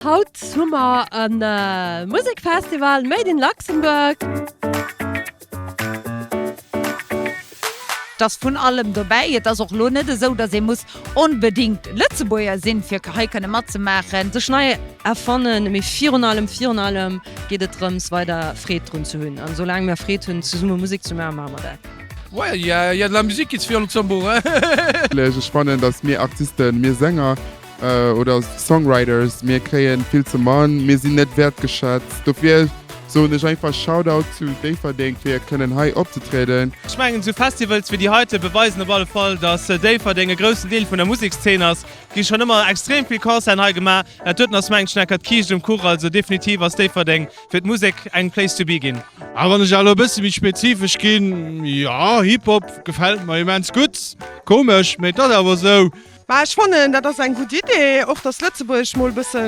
Haut hu mer en Musekfestival Made in Luxembourg. Et ass vun allem dobäi. Et ass och elo net esou, datt ee muss onbedéngt Lëtzebuerger sinn, fir hei kënne matzemaachen. Sech nei erfannen, mee virun allem, virun allem geet et drëms, weider Freed drun ze hunn. An soulaang mer Freed hunn, zesumme Musek ze maachen, maache mer dat. Ouais, il y a de la musique ici au Luxembourg, hein! Sech fannen, datt mir Artisten, mir Sänger. oder Songwriters, mir kréien vill ze man, mir sinn net wertgeschätzt, dofir soen ech einfach Shoutout zu Déifferdeng fir kënnen hei opzetrieden. Ech mengen sou Festivals wéi déi heite beweisen op alle Fall dass Déifferdeng e groussen Deel vun der Musekszeen ass. Et gi schonn ëmmer extrem vill Concerten hei gemaach, dat doten ass mengen ech nach grad d'Kiischt um Kuch, also definitiv ass Déifferdeng fir d'Musek eng Place to be ginn. A wann ech elo e bësse méi spezifesch ginn, jo, Hip-Hop gefält mer immens gutt, komesch, mee et ass awer esou. Mä ech fannen, dat ass eng gutt Idee, och datt Lëtzebuerg mol e bësse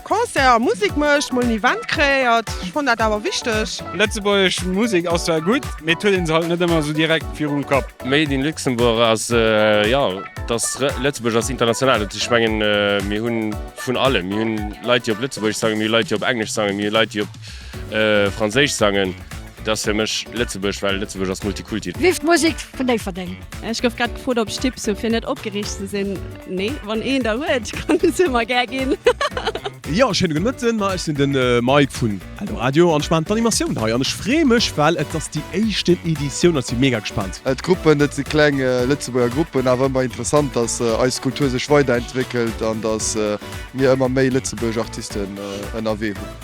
Concert a Musek mécht, mol en Event kreéiert. Ech fannen dat awer wichteg. Lëtzebuerg Musek ass zwar gutt, mee et huet een se halt net ëmmer esou direkt virum Kapp. Made in Luxembourg ass, jo, et ass, Lëtzebuerg ass international. Dat heescht, ech mengen, mir hu vun allem. Mir hu Leit, déi op Lëtzebuergesch sangen, mir hu Leit, déi op Englesch sangen, mir hu Leit, déi op. Franséisch sangen, dat ass fir mech Lëtzebuerg, well Lëtzebuerg ass Multikulti. Vive d'Musik vun Déifferdeng! Ech gouf grad gefrot op ech Tipps hu fir net opgereegt ze sinn. Nee, wann een der huet kann en se mer gär ginn. Jo, schéine gudde Mëtten, ma ech sinn de Mike vun Eldoradio an ech maachen d'Animatioun hei an ech freeë mech well et ass déi éischten Editioun an ech si mega gespaant. D'Gruppen, dat si kleng Lëtzebuerger Gruppen, awer ëmmer interessant, datt eis Kultur sech weiderentwéckelt an datt mir ëmmer méi Lëtzebuerg Artisten ënnerwee hunn.